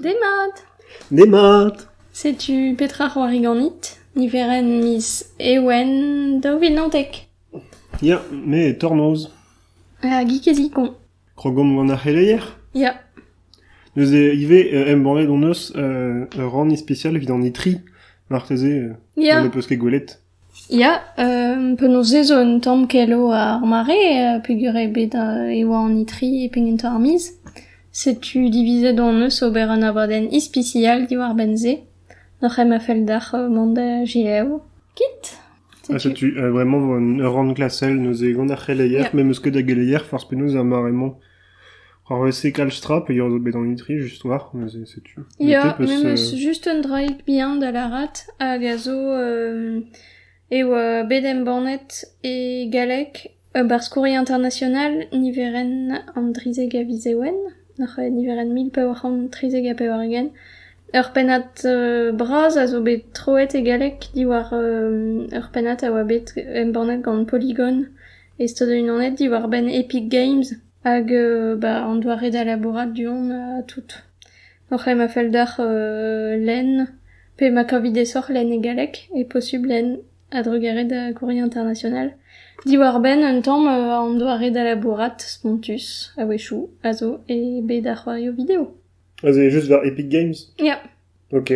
Demat! Demat! Setu petra 'c'hoari ganit, niverenn miz Ewen daou vil naontek. Ya, me e tornoz. Ha geek ez ikoñ. Krogomp gant ar c'heleier? Ya. Neuze ivez euh, embannet hon eus euh, ur rann ispesial evit an itri. Marteze euh, Ja. n'en peus ket gwelet. Ya, penaos ez eo un tamm kelo ar mare peogwir eo bet e oa an itri e pegentañ ar miz. Setu divizet hon eus ober un abadenn ispisial diwar-benn se. Oc'h em a fell deoc'h mont da gelaou kit? Ha setu vraiment ur rann glasel neuze gant ar c'heleier. Me 'm eus ket da geleier forzh penaos ha mare-mañ. War wese kalz tra pe eo bet an itri just war neuze setu. Ya, Bete peus, memes euh, just un draig bihan da lârat hag a zo euh, e oa bet embannet e galleg ur barzh-kouri international niverenn an drizek a viz Ewen, oc'h eh, niverenn mil pevar c'hant trizek ha pevar-ugent. Ur pennad euh, bras a zo bet troet e galleg diwar euh, ur pennad a oa bet embannet gant Polygon Estonet unanet diwar-benn Epic Games hag ba an doare da labourat du-hont ha tout. Oc'h em a fell deoc'h lenn pe ma kavit aesoc'h lenn e galleg e posubl lenn a-drugarez da Courrier International. Diwar-benn un tamm an doare da labourat spontus a-wechoù a zo e bed ar c'hoarioù video. A zo just war Epic Games? Ya. Ok.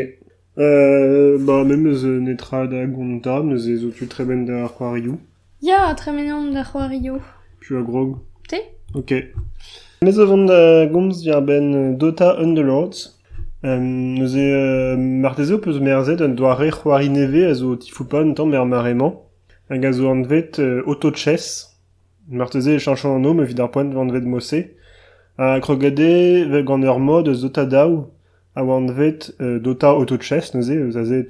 Euh, bah me meus netra da gont ta, neuze zo tu tremen da c'hoarioù. Ya, tremen on da c'hoarioù. Tu a grog. Te? Ok. Mes o vont da gomz diarbenn Dota Underlords. Um, neuze, uh, marteze o peus merzet un doare c'hoari nevez a zo o tifoupa un tamm er mare-mañ, hag a zo anvet uh, Auto-Chess. Marteze e chañchon anv ma evit ar poent vanvet Mosse. Ha krogade gant ur mod eus Dota daou, a oa anvet Dota Auto-Chess neuze, eus aze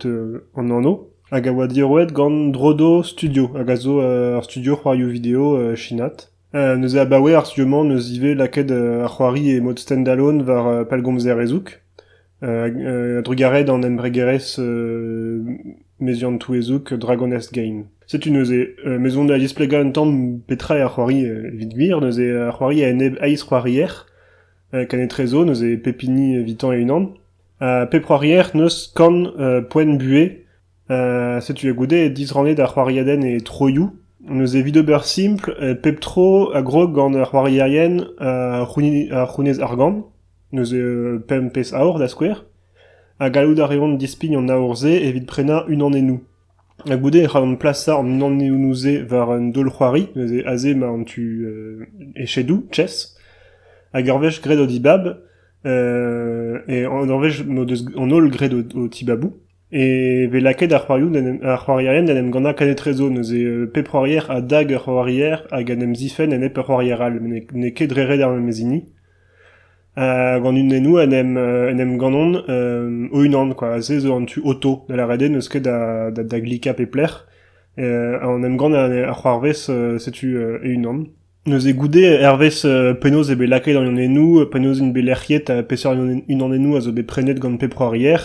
an anv, hag a oa diorroet gant Drodo Studio, hag a zo ur studio c'hoarioù video chinat. neuze abaoe ar studio-mañ 'neus ivez lakaet ar c'hoari e mod stand-alone war pellgomzer ezoug, a-drugarez d'an embregerezh meziant-touezoug Dragon Nest Game. Setu neuze, maison da displegañ un tamm petra eo ar c'hoari evit gwir, neuze ar c'hoari a enep aizc'hoarier, Kan etrezo neuze pep hini evitañ e-unan. Ha pep c'hoarier neus kan poent buhez. setu a goude disrannet ar c'hoariadenn e troioù. Neuze evit ober simpl, pep tro a grog gant ar c'hoarierien ar c'hounez argant. Neuze pemp pezh aour da skouer. Ha gallout a reont dispign an aour-se evit prenañ unan enno. Ha goude e c'hallan plasañ an anezhoù-se war un daol-c'hoari neuze aze emañ an tu echedoù, chess. Hag ur wech graet o dibab e ur wech m'o deus an holl graet o tibaboù e vez lakaet ar c'hoarierien d'en em gannañ kenetrezo neuze pep c'hoarier a dag ur c'hoarier hag en em zifenn enep ur c'hoarier all met n'eo ket dre ret ar memes hini. gant unennoù en em en em ganont o-unan quoi aze zo an tu auto da lâret eo n'eus ket da da da glikañ pep lec'h en em gann ar c'hoarvez setu e-unan neuze goude hervez penaos eo bet lakaet an unennoù penaos int bet lec'hiet ha peseurt unanennoù a zo bet prenet gant pep c'hoarier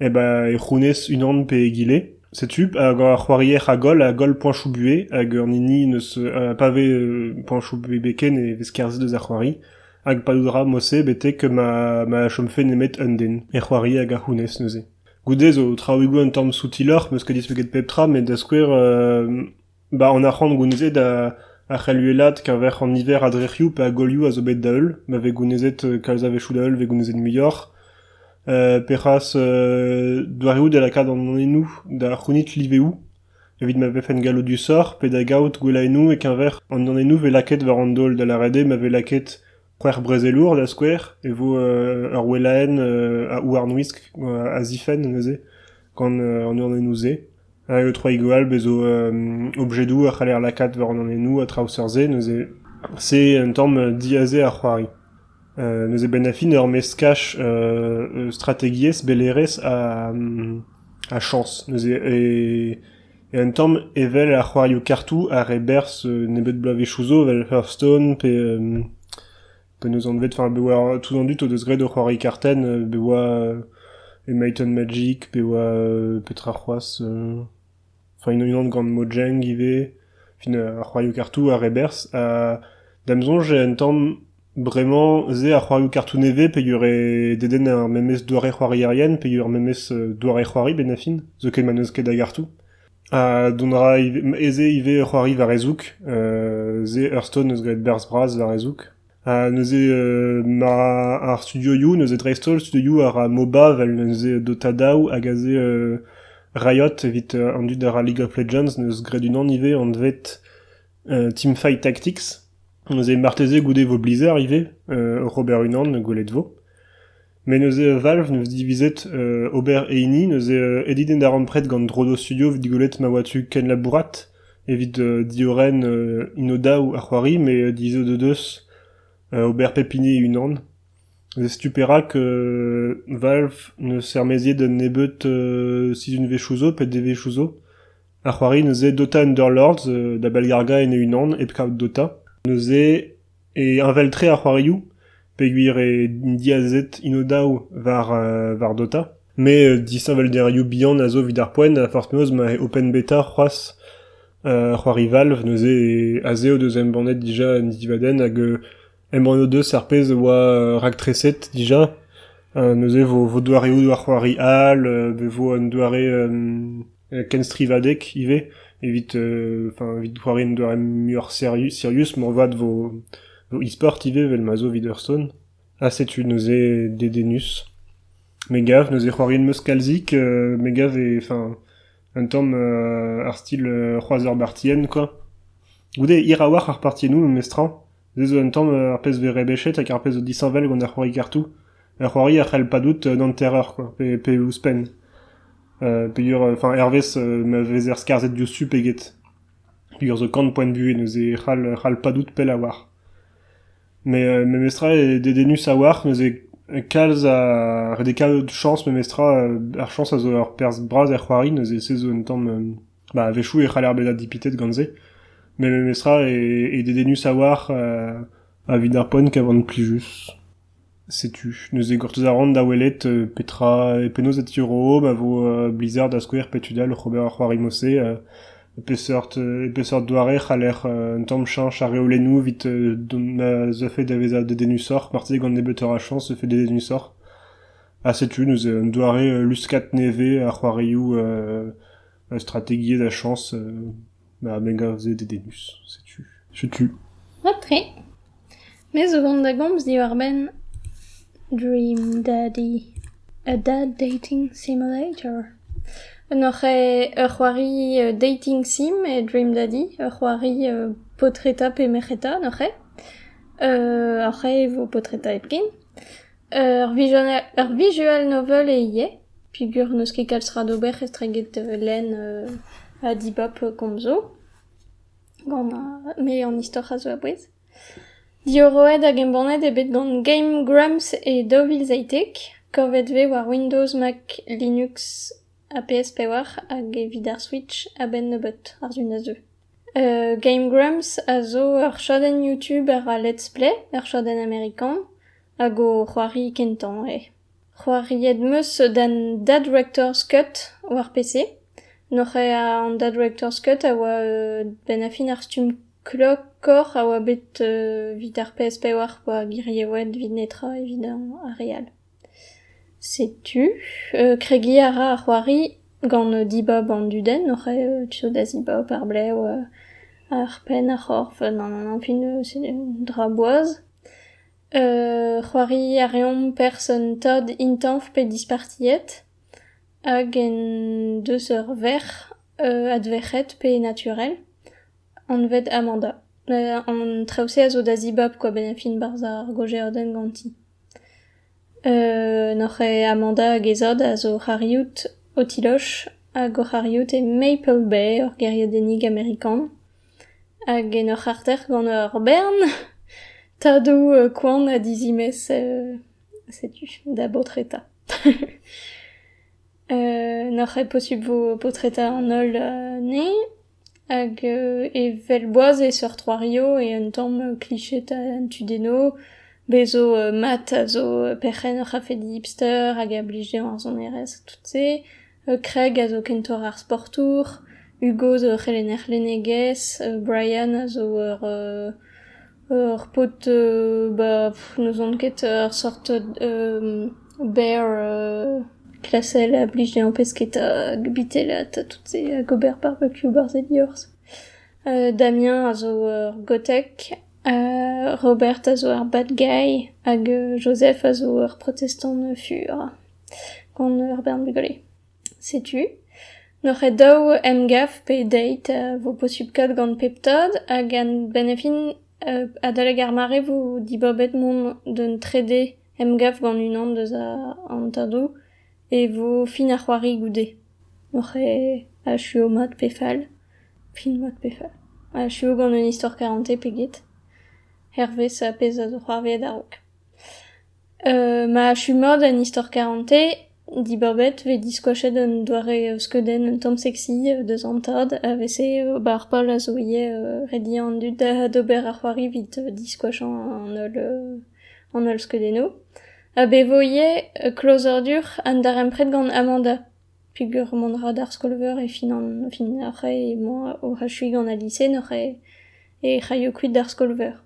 Hep e c'hounez unan pe egile. Setu, hag ar c'hoarier a goll, a goll poañchoù-buhez, hag an hini n'eus pa vez poañchoù-buhez ken e vez kerzhet eus ar c'hoari. Hag padout a ra mod-se betek ma ma chomfe nemet un den e c'hoari hag a c'hounez neuze. Goude zo traoùigoù un tamm soutiloc'h, 'm eus ket dispeget pep tra, met da skouer 'Ba an arc'hant gounezet a c'hell uhelaat keñver an niver a drec'hioù pe a golioù a zo bet da-heul, ma vez gounezet kalz a-wechoù da-heul e vez gounezet muioc'h. pe c'hoazh doareoù da lakaat an anennoù da c'hounit liveoù evit ma vefent galloudusoc'h pe da gaout gwellaennoù e-keñver an anennoù 'vez lakaet war an daol da lâret eo ma vez lakaet C'hwec'h brezelour, da skouer, e vo ur wellaenn a houarnwisk a zifenn neuze gant an ornennoù-se. Hag Troigoal bezo objedoù a c'haller lakaat war an ornennoù a traoù seurt-se neuze c'est un tamm diaze ar c'hoari. Neuze benn ar fin ur meskaj strategiezh, bellerezh ha chañs neuze. Un tamm evel ar c'hoarioù kartoù ar re berzh nebeut bloavezhioù zo evel Hearthstone pe penaos anvet enfin be oa tout an dud o deus graet o c'hoari kartenn be oa Might and Magic pe oa petra c'hoazh enfin unan gant Mojang ivez fin ar c'hoarioù kartoù ar re berzh ha da'm soñj eo un tamm Bremañ ez eo ar c'hoarioù kartoù nevez peogwir dedenn ar memes doare c'hoarierien peogwir ar memes doare c'hoari benn ar fin zoken ma n'eus ket a gartoù. Ha dont a ra ivez ez eo ivez c'hoari war e zoug, se ur stunt 'neus graet berzh bras war e zoug. Ha neuze ma ar studioioù neuze dreist-holl studioioù a ra MOBA vel neuze Dota daou hag aze Riot evit an dud a ra League of Legends 'neus graet unan ivez anvet Teamfight Tactics, neuze marteze goude vo Blizzard ivez, Robert Unan gwelet vo. Met neuze Valve neus divizet ober e hini, neuze edit en da rampred gant Drodo Studio evit gwelet ma oa tu kenlabourat evit diorren Inoda a c'hoari, met dizeut o deus ober pep hini e-unan. Neuze setu perak Valve neus ermaeziet un nebeud sizhunvezhioù zo, pet devezhioù zo, Ar c'hoari neuze Dota Underlords da bellgargañ en e-unan hep kaout Dota. Neuze e heñvel-tre ar c'hoarioù peogwir eo diazet Inodav war war Dota. Met disheñvelderioù bihan a zo evit ar poent ha forzh penaos ma eo open beta c'hoazh c'hoari Valve neuze aze o deus embannet dija un divadenn hag Embann o deus ar pezh a oa raktreset dija. neuze vo vo doareoù d'ar c'hoari all, be vo un doare kenstrivadeg ivez evit enfin evit c'hoari un doare muioc'h serius moarvat vo vo e-sport ivez evel ma zo evit Hearthstone. Ha setu neuze dedennus. Me gav neuze c'hoariet 'm eus kalzik, me gav eo enfin un tamm ar stil Kroaz ar Bartienn quoi. Goude hir a-walc'h ar partiennoù memestra. se zo un tamm ar pezh vez rebechet hag ar pezh zo disheñvel gant ar c'hoari-kartoù. Ar c'hoari a c'hell padout an hanter-eur quoi, pe, pe ouzhpenn. Euh, peogwir, enfin, hervez ma vezer skarzhet diouzhtu peget. Peogwir zo kant poent buhez neuze e c'hall, c'hall padout pell a oar. Mais euh, memestra eo dedennus a oar, neuze kalz a... ret eo kaout chance memestra, ar chance a zo ur perzh bras er c'hoari, neuze se zo un tamm... Bah, a-wechoù e c'haller bezañ dipitet gant se, met memestra eo dedennus a-walc'h evit ar poent ka van plijus. Setu, neuze gortoz a ran da welet petra, penaos e tiorroomp a vo Blizzard da skouer pe tud all oc'h ober ar c'hoarimo-se, peseurt, peseurt doare c'haller un tamm cheñch ar reolennoù evit dont da vezañ dedennusoc'h, marteze gant nebeutoc'h a chañs e fait dedennusoc'h. ha setu neuze un doare luskad nevez a c'hoarioù strategiezh a chañs ma mengave dedennus. Setu. Setu. Mat-tre. Me zo vont da gomz diwar-benn Dream Daddy, a dad dating simulator. N'oc'h ur c'hoari dating sim e Dream Daddy, ur c'hoari paotreta pe merc'heta, n'oc'h ur vo paotreta hepken. Ur visual novel eo ivez peogwir n'eus ket kalz tra d'ober estreget lenn ha dibab komzoù gant me an istor a zo a-bouez. Diorroet hag embannet eo bet gant Game Grumps e daou vil seitek, kavet eo war Windows, Mac, Linux ha PS5 hag evit ar Switch a-benn nebeut àr-zu na zeu. Game Grumps a zo ur chadenn YouTube a let's play, ur chadenn amerikan, hag o c'hoari kentañ eo. C'hoariet 'm eus d'an Da Director's Cut war PC. Noc'h eo an Da Director's Cut a oa benn ar fin ar stumm klokoc'h a oa bet evit ar PS4 pa girioet evit netra evit ar re all. Setu, kregiñ a ra ar c'hoari gant dibab an dudenn oc'h tu zo da zibab ar blev ar penn, ar c'horf, an fin dra boaz. c'hoari a reomp person tad intañv pe dispartiet hag en deus ur verc'h adverc'het pe naturel anvet Amanda. an traoù-se a zo da zibab kwa benn fin barzh ar gojeadenn ganti. N'oc'h ket Amanda hag he zad a zo o c'c'hariout o tiloch hag o c'hariout e Maple Bay, ur gêriadennig amerikan. Hag en ur c'harter gant ur bern tadoù koan ha dizimez setu da baotreta. n'oc'h ket posubl vo paotreta an holl anezhe. Hag evel boaz e seurt c'hoario eo un tamm kliched an tudennoù. Bez zo mat a zo perc'henn ur c'hafedi hipster hag a blij dezhañ ar sonerezh tout-se. Kreg a zo kentoc'h ar sportour. Hugo zo ur c'helenner lennegezh. Brian a zo ur Ur paotr ba n'ouzon ket ur sort berr klasel a blij dezhañ pesketa hag bitelat ha tout se hag ober barbecue barzhedi orzh. Damien a zo ur gotek, Robert a zo ur bad guy hag Joseph a zo ur protestant fur gant ur bern bugale. Setu, n'hor ket daou emgav pe deit vo posupl kaout gant pep tad hag gant benefin adalek ar mare vo dibabet mont d'un trede emgav gant unan deus an tadoù e vo fin ar c'hoari goude. N'hor ket achu mat pe fall, fin mat pe fall. Achu gant un istor karante pe get, hervez pezh a zo c'hoarvezet a-raok. ma chumor d'an istor karante dibaobet 'vez diskoachet un doare skeudenn un tamm seksi deus an tad a vese ba ar pal a zo ivez rediañ an dud d'ober ar c'hoari 'vit diskoachañ an holl an holl skeudennoù ha bevo ivez klozadur an darempred gant Amanda peogwir mont 'ra d'ar skol-veur e fin an fin ar c'hae emañ oc'h achuiñ gant al lise noc'h he c'haio kuit d'ar skol-veur.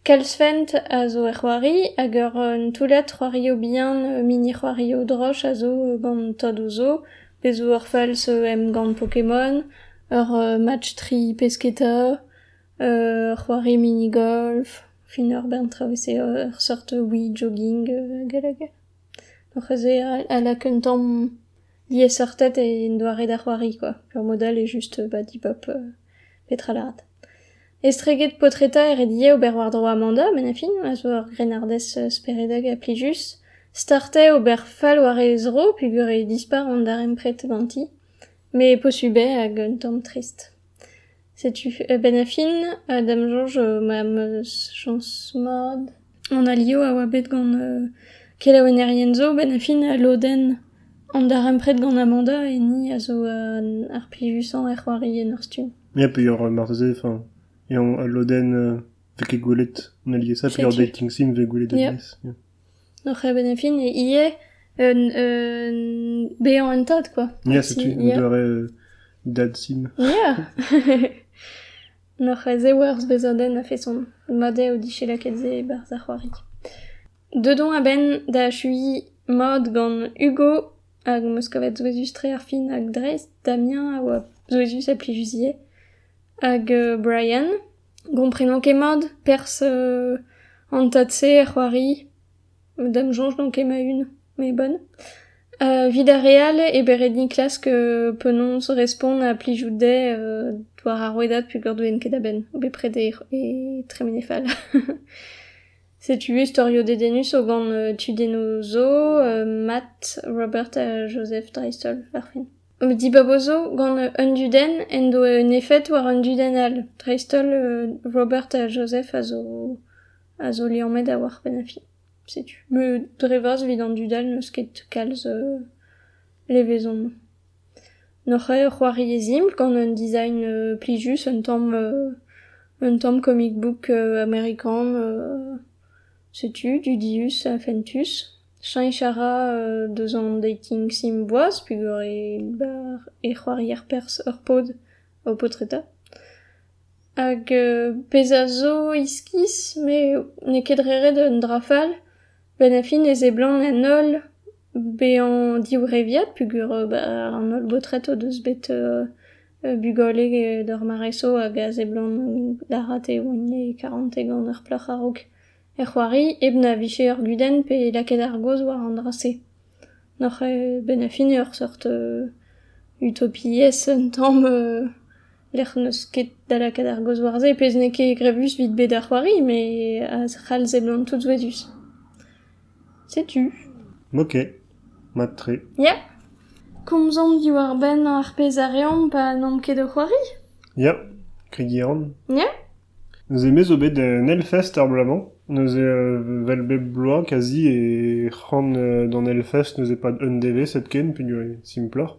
Kalzfent a zo er c'hoari hag un toullad c'hoarioù bihan, mini-c'hoarioù droch a zo gant tadoù zo. Bez' 'vo ur falz emgann Pokémon, ur match tri pesketa, ur c'hoari mini-golf, fin ur bern traoù evel-se, ur seurt wee-jogging hag all hag all. Donc aze a lak un tamm liesseurted en doare da c'hoari kwa. Ur mod all eo just ba dibab petra lâret. Estreget paotreta e red ivez ober war-dro Amanda met ar fin a zo ur grennardez speredek ha plijus. Start eo ober fall war he zro peogwir e dispar an darempred ganti met posubl eo hag un tamm trist. Setu a-benn ar fin ha da'm soñj m'am eus chañs mat an alio a oa bet gant kelaouennerien zo benn ar fin lodenn an darempred gant Amanda hini a zo ar plijusañ er c'hoari en ur stumm. Ya, peoc'h marteze, enfin, eñ al lodenn vez ket gwelet an aliesañ peoc'h dating sim vez gwelet alies. Oc'h eben e fin ivez un un bezañ un tad quoi. Ya, setu un doare dad sim. Ya! N'oc'h ez eo ur zvezadenn a-feson. Mat eo dije lakaet se e-barzh ar c'hoari. Deuet on a-benn da achuiñ mod gant Hugo Hag 'm eus kavet souezhus-tre ar fin hag dreist, Damien a oa souezhus ha plijusier. Hag Brian, gomprenan ket mat perzh an tad-se er c'hoari. D'am soñj n'on ket ma-un, mais bonne. Evit ar re all eo bet ret din klask penaos respont ha plijout dezhe war ar rouedad peogwir ne ouien ket a-benn, bepred e, e tremene fall. Setu storioù dedennus zo gant tudennoù zo Matt, Robert ha Joseph dreist-holl ar film. Dibabo zo gant un dudenn en doa un efed war un dudenn all. Dreist-holl Robert ha Joseph a zo a zo liammet da war penn ar film. Setu. Dre vras evit an dud all n'eus ket kalz levezon. N'oc'h eo c'hoari e zimbl gant un design plijus, un tamm un tamm comic book amerikan. Setu dudius ha fentus. Cheñch a ra deus an dating sim boaz pegwir e c'hoari ar perzh ur paotr o paotreta. Hag pezh a zo iskis, me n'eo ket re ret un dra fall. Benn ar fin e seblant en holl bezañ divreviad peogwir an holl baotred o deus bet bugale d'ur mareso hag a seblant d'ar re e oant e karantez gant ur plac'h a-raok er c'hoari hep na vije ur gudenn pe lakaet ar gaoz war an dra-se. N'oc'h benn ar fin ur seurt utopiezh un tamm Lec'h n'eus ket da lakaat ar gaoz war-se, pezh n'eo ket grevus evit bet ar c'hoari, met a c'hall seblant tout souezhus. Setu. Ok, mat-tre. Ya. Komzomp diwar-benn ar pezh a reomp pa n'omp ket o c'hoari. Ya, kregiñ a ran. Ya. Neuze me zo bet en Hellfest ar bloaz-mañ. Neuze, euh, vel bep bloaz, kazi, e c'han euh, d'an Hellfest neuze pad un devezh hepken, peogwir e simploc'h.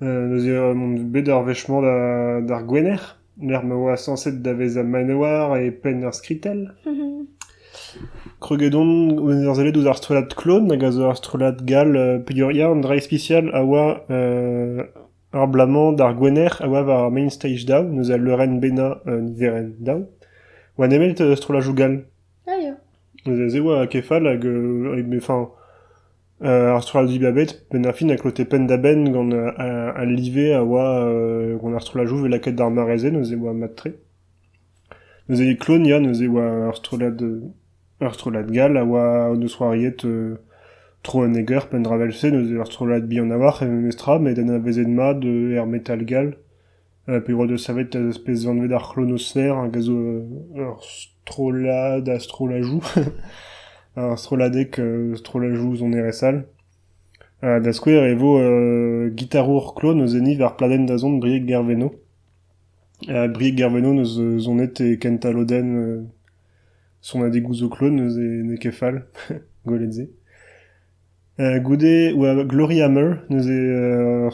neuze mont bet ar wech-mañ d'ar Gwener, lec'h ma oa sañset da vezañ manoir e penn ar skritell. Kroget on ur sellet ouzh ar strollad Klon, hag a zo ur strollad gall peogwir an dra ispisial a oa ar bloaz-mañ d'ar Gwener a oa war main stage daou, neuze al leurenn bennañ niverenn daou, oa nemet strollajoù gall. Ah ya. Neuze se oa kef all hag, enfin, Ar strollad dibabet, penn-ar-fin, a klote penn-da-benn gant al live a oa gant ar strolladoù bet lakaet d'ar mare-se, neuze e oa mat-tre. Neuze Klonia, neuze e oa ur strollad ur strollad gall a oa o deus c'hoariet tro un eger penn-dra 'vel-se, neuze ur strollad bihan a-walc'h e memestra met anavezet mat er metal gall Pe oa deus savet az pez anvet ar c'hlonoser hag a zo ur strollad a strollajoù ar strolladeg strollajoù sonerezh all. Da skouer e vo gitarour klon o zenit war pladenn dazont Brieg Gerveno. Brieg Gerveno neus sonet e kentañ lodenn sonadegoù zo klon neus n'eo ket fall gwelet se. Goude oa Glory Hammer neuze ur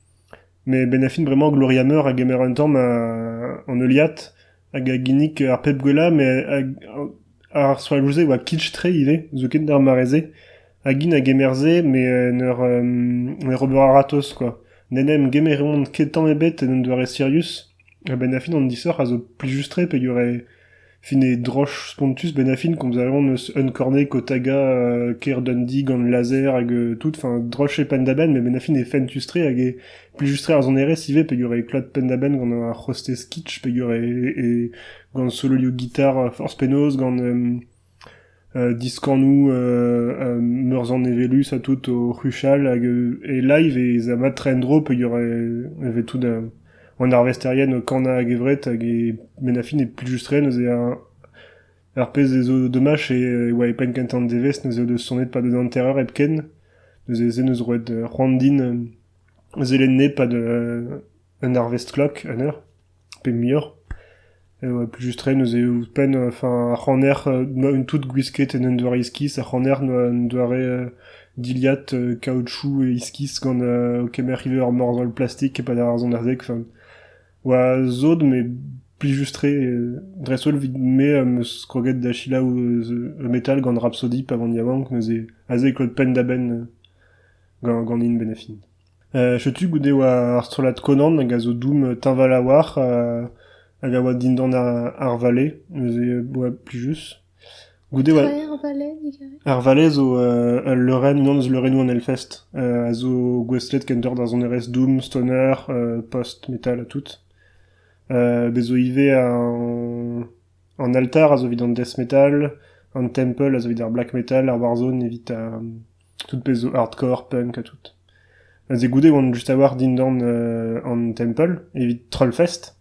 Met benn ar fin bremañ Gloria Meur a gemer un tamm an heuliad hag a ginnig ar pep gwellañ met ar soajoù-se a oa kitsch-tre ivez zoken d'ar mare-se hag int a gemer se met en ur en ur ober a-ratozh kwa. N'en em gemeront ket tamm ebet en un doare sirius ha benn ar fin an disoc'h a zo plijus-tre peogwir e Fin eo droch spontus benn ar fin komz a reont eus Uncorney, Kotaga, Caer Dundee gant laser hag tout. Enfin, droch eo penn-da-benn, met benn ar fin eo fentus-tre hag eo plijus-tre ar sonerezh ivez peogwir eo klot penn-da-benn gant ar c'hostez kitsch, peogwir eo gant sololioù gitar forzh penaos, gant Diskannoù meurzanevellus ha tout o c'huchal hag e live ez a mat-tre en-dro peogwir e vez tout an arvesterien o kanañ a-gevret hag e benn ar fin e plijus tre neuze ar pezh a zo domaj e oa e penn kentañ an devezh neuze o deus sonet pad un hanter-eur hepken neuze se 'neus roet c'hoant din zelenn nep pad Un arvest-klok, un eur, pe muioc'h, eo plijus-tre neuze ouzhpenn enfin ar c'haner tout gwisket en un doare iskis, ar c'haner un doare dilhad kaoutchouc iskis gant o kemer ivez ur morzhol plastik e-pad ar sonarzheg. Enfin, oa sot met plijus-tre. Dreist-holl evit me am eus kroget da selaou e metal gant Rhapsody pa van yaouank neuze aze e klot penn-da-benn ganin benefin. Setu goude e oa ar strollad Conan hag a zo doum teñval a-walc'h hag a oa dindan ar vallée, neuze e oa plijus. Goude oa... Traer ar vallée, digarez? Ar vallée zo ul leurenn, unan eus leurennoù an Hellfest, a zo gouestlet kentoc'h d'ar sonerezh doom, stoner, post-metal ha tout. Bez' zo ivez an altar a zo evit an death metal, an temple a zo evit ar black metal, ar warzone evit Tout pezh zo hardcore, punk ha tout. Aze goude e oan just a-walc'h dindan an temple, evit Trollfest.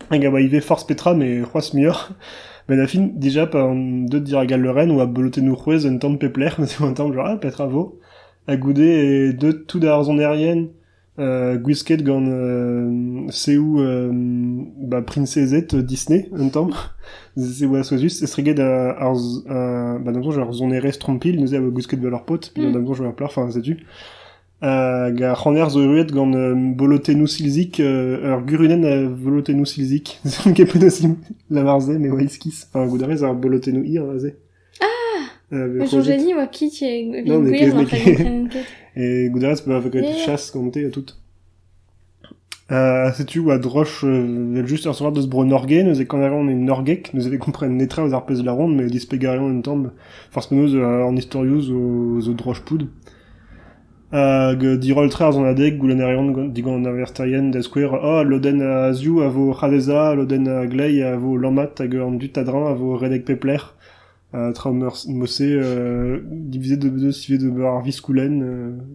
Hag a oa ivez forzh petra, mais c'hoazh muioc'h. Ben da fin, déjà, pa on deut dirak al leurenn, oa bolotennoù c'hwez un tamm pep lec'h, ma un tamm genre, ah, petra vo? Ha goude, deut tout da ar sonerien, gwisket gant seoù ba priñsezed Disney un tamm. Se oa souezhus, estreget ar ba da soñj ar sonerezh trompilh neuze a oa gwisket ba lur paotr, pignot da soñj war ar plac'h, enfin setu. Hag ar c'haner zo erruet gant bolotennoù silzik, ur gurunenn a volotennoù silzik. Ket penoz lavar se, me oa iskis. Enfin goût a rez ar bolotennoù hir aze? Ah! Eus Jojani oa kit evit gouiet war tremen ket. E goudarez pa vo graet chas gante ha tout. Euh, setu oa droch vel just ar soar deus bro Norge, neuze quand on est norgek, nous avait compris netra aux arpes de la ronde, mais dispegarion en tembe, force menos en historiouz aux droch poud. Hag diroll-tre ar sonadeg, goulennerien digant an arvesterien, da skouer, oh, lodenn a-azioù a vo c'hadesa, lodenn a-gleiz a vo lammat hag an dud a-dreñv a vo redek pep lec'h. Ha tra mod-se divizet eo bet ivez d'ober ar viskoulenn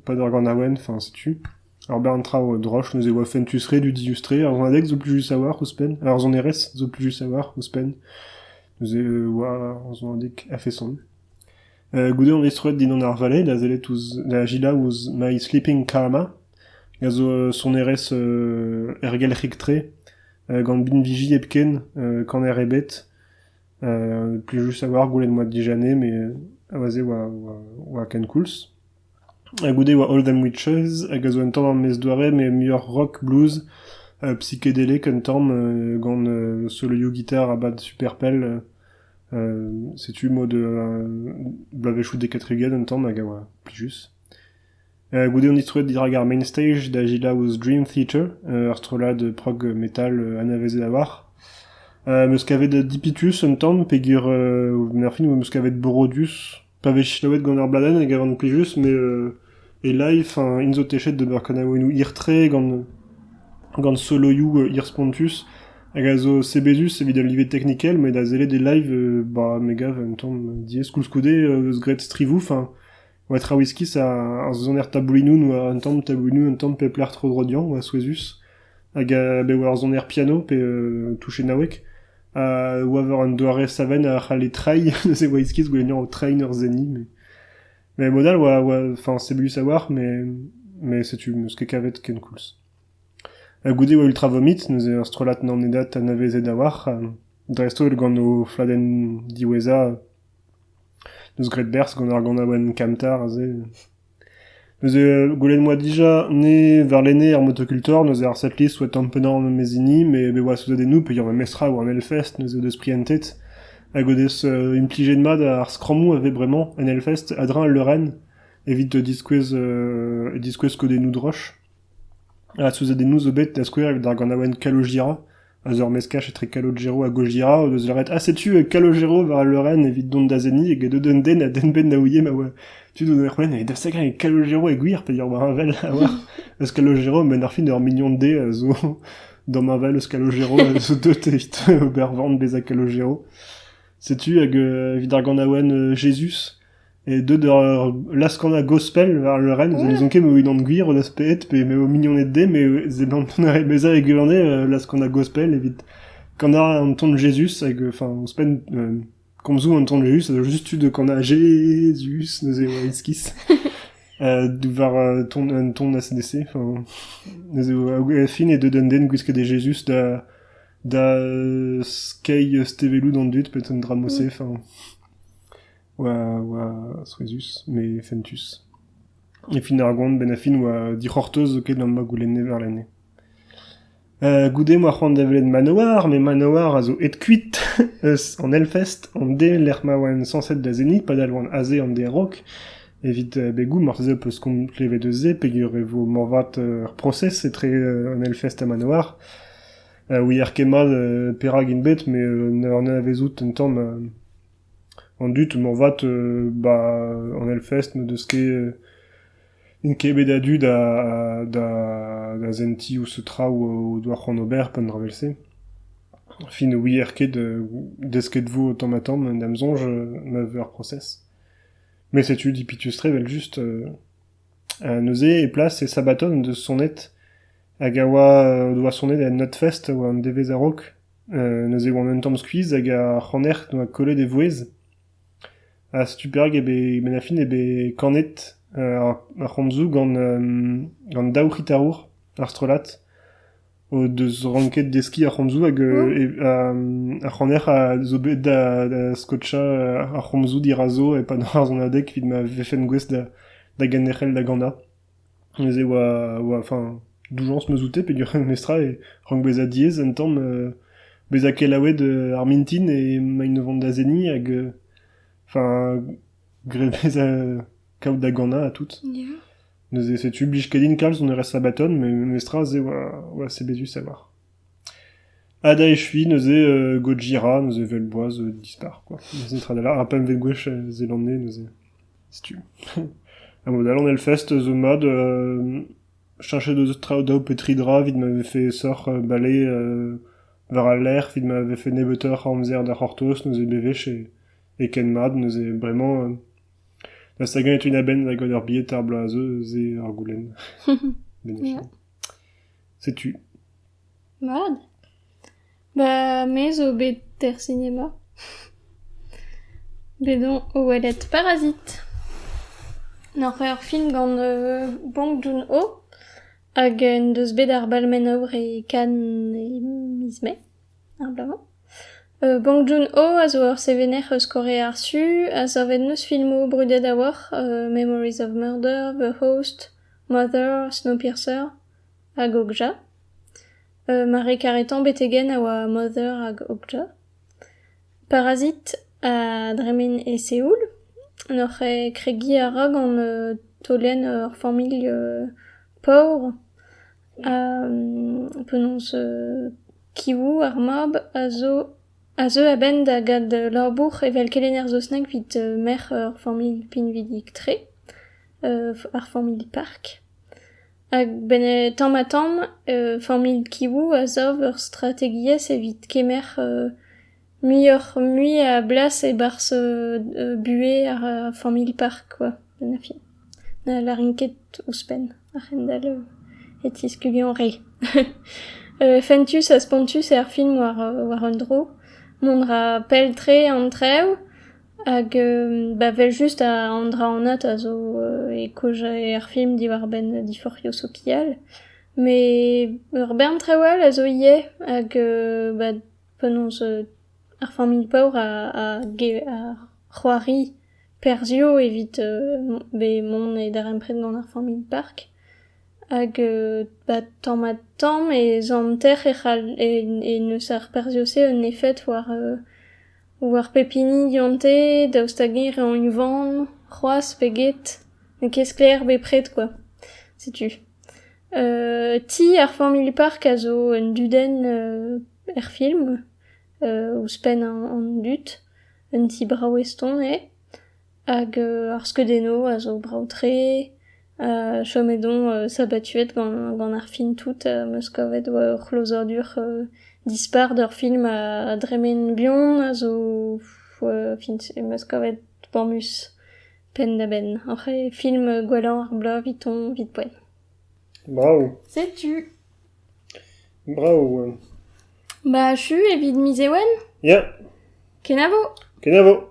e-pad ar ganaouenn, enfin setu. Ar bern traoù droch, neuze e oa fentus re dudius-tre. Ar sonadeg zo plus just a-walc'h ouzhpenn, ar sonerezh zo plus juste a-walc'h ouzhpenn. Neuze e oa ar sonadeg a-feson. Goude on destroet dindan ar vallée da sellet ouzh da gilañ ouzh My Sleeping Karma, a zo sonerezh ergelc'hik-tre gant binviji hepken, kaner ebet. Plij just a-walc'h gwelet moa dija 'nez met a-wazh-se oa oa ken koulz. Ha goude e oa All Them Witches, hag a zo un tamm ar maez-doare met muioc'h rock, blues, psikedelic un tamm, gant solo-gitar ha bad super pell. setu mod bloavezhioù Decatruget un tamm hag a oa plijus. goude on distroet dirak ar main stage da gelaouoù Dream Theater, ur strollad prog metal anavezet a-walc'h. Meus kavet Dipitus un tamm peogwir Murphy 'neus kavet Borodius, pa vez selaouet gant ur bladenn e gavan plijus met e-live enfin int zo techet d'ober kanaouennoù hir-tre gant gant soloioù hir-spontus hag a zo sebezus evit al live teknikel met da sellet e live ba me gav un tamm diaes koulskoude eus graet strivoù enfin oa Trawiskis ar soner taboulinoù n'oa un tamm taboulinoù un tamm pep lec'h tro-dro dezhañ oa souezhus hag a bev ur soner piano pe touchennaoueg a oa war un doare savenn a c'halle treiñ neuze Waitskis goulennañ o treiñ ur seniñ mais mais mod all oa oa enfin c'est voulu savoir mais mais setu 'm eus ket kavet kenkoulz ha goude e oa Ultra Vomit neuze ur strollad nanedat anavezet a-walc'h dreist holl gant o fladenn diwezhañ deus Great Bears gant ar ganaouenn Kamtar aze Neuze gwelet 'moa dija ne warlene ar motokultor, neuze ar setlist 'oa tamm pennañ an mes hini, met bet 'oa souzadennoù peogwir ma mestr a oa en Hellfest, neuze o deus prientet hag o deus implijet mat ar skrammoù a vez bremañ en Hellfest a-dreñv al leurenn evit diskouez diskouez skodennoù droch. Ha souzadennoù zo bet da skouer evit ar ganaouenn Kalo Jira. A-zeu ar meskaj etre Calogero ha Gojira o deus lâret ha setu Calogero war al leurenn evit dont da seniñ eget un den a denben da ouie ma oa tud o doa c'hwenn evit da segañ Calogero e gwir peger oa heñvel a-walc'h eus Calogero men ar fin ur mignon dezhe a zo damheñvel eus Calogero a zo deut evit ober van bezañ Calogero setu hag evit ar ganaouenn Jezuz Deuet ur laz-kanañ gospel war leurenn, zo n'ouzon ket ma vo unan gwir o laz pet pe ma vo mignoned dezhe, met seblant mont bezañ e gwirionez laz-kanañ gospel evit kanañ an ton Jezuz hag enfin ouzhpenn komzoù an ton Jezuz a zo just tu da kanañ Jezuz neuze eo iskis war ton un ton ACDC, enfin neuze e fin eo deuet un den gwisket e Jezuz da da skeiñ stevelloù d'an dud, peut-être un dra-mañ-se, enfin... oa souezhus met fentus. E fin ar goan, benn ar fin, oa dic'hortoz zoken am boa goulenne warlene. goude m'oa c'hoant da welet Manowar, met Manowar a zo aet kuit eus an Hellfest, an de lec'h ma oa sañset da zenniñ, padal oan aze an de a-raok. Evit begoù, marteze peus komz klevet eus se peger e vo moarvat ur prosez etre an Hellfest ha Manowar. ouier ket mat perak int bet, met ne anavezout un tamm An dud moarvat, 'ba an Hellfest n'o deus ket, n'int ket bet a-du da da da sentiñ ouzh traoù o doa c'hoant ober pe an dra vel-se. Fin ne ouier ket desket 'vo tamm-ha-tamm da'm soñj ma vez ur prosez. Met setu dipitus-tre evel-just, neuze e plas e Sabaton en deus sonet hag a oa o doa sonet en Nutfest war an devezh a-raok. neuze e oan un tamm skuizh hag ar c'haner doa kollet e vouezh ha setu perak eo bet Menafin eo bet kanet ar c'homzoù gant daou c'hitarour ar strollad o deus ranket deskiñ ar c'homzoù hag ar c'haner a zo bet da skotchañ ar c'homzoù dirazo e-pad ar sonadeg evit ma vefent gouest da ganerc'hel da ganañ. Neuze e oa enfin doujañs 'm eus oute peogwir memestra e rank bezañ diaes un tamm bezañ kelaouet ar mintin emaint o vont da seniñ hag enfin graet bezañ kaout da ganañ ha tout. Neuze setu 'blij ket din kalz on eur sabbaton met memestra se oa sebezus a-walc'h. Ha da echuiñ neuze Gojira, neuze evel boaz dispar kwa, neuze tra da lâr, ar pempvet gwech Zeelanne neuze, setu. A mod-all an Hellfest zo mat cheñchet deus traoù daou pe tri dra evit ma vefe aesoc'h bale war al lec'h, evit ma vefe nebeutoc'h a amzer da c'hortoz, neuze bewech e ken mat, neuze bremañ dast hag-eñ e teuin a-benn da goll ur bilhed ar bloaz, se ur goulenn. Setu. Mat. Ba me zo bet er sinema. Bet on o welet Parazit. Oc'h ur film gant euh, Bong Joon-ho hag en deus bet ar Balmenow e Cannes e miz Mae ar bloaz-mañ. Euh, Bong Joon-ho a zo ur sevener eus Kore ar Su a savet n'eus filmoù brudet a-walc'h, euh, Memories of Murder, The Host, Mother, Snowpiercer hag Okja. Mare karetañ betegenn a oa Mother hag Okja. Parazit a dremen e Seoul, n'oc'h kregiñ a ra gant taolenn ur familh paour. Penaos, Kiwou, ar mab, a zo a zeu a-benn da gad labour evel kelenner saozneg evit merc'h ur familh pinvidik-tre, ar familh Park. Hag benn- tamm-ha-tamm familh Kiwou a sav ur strategiezh evit kemer muioc'h-mui a blas e-barzh buhez ar familh Park, quoi, en fin. Ne lârin ket ouzhpenn. A-hend-all e tiskugio re. Fentus ha spontus eo ar film war un dro. Mont a ra pell-tre an traoù hag ba evel-just an dra anat a zo e kaozeal er film diwar-benn diforc'hioù sokial. Met ur bern traoù all a zo ivez hag ba penaos ar familh paour a c'hoari Perzhioù evit bet mont e darempred gant ar familh park hag ba tamm-ha-tamm e zanter e c'hall e neus ar perzhioù-se un efed war war pep hini gante daoust hag-eñ re unvan c'hoazh pe get n'eo ket sklaer bepred kwa setu. Ti ar familh park a zo un dudenn er film ouzhpenn an dud. Un ti brav eston eo hag ar skeudennoù a zo brav-tre. chomet on sabatuet gant ar film tout, 'm eus kavet ur c'hlozadur dispar d'ur film a dremen buan a zo em eus kavet boamus penn-da-benn. Oc'h eo film gwellañ ar bloaz 'vit-hoñ 'vit poent. Brav. Setu. Brav. Ba achu evit miz Ewen? Ya. Kenavo. Kenavo.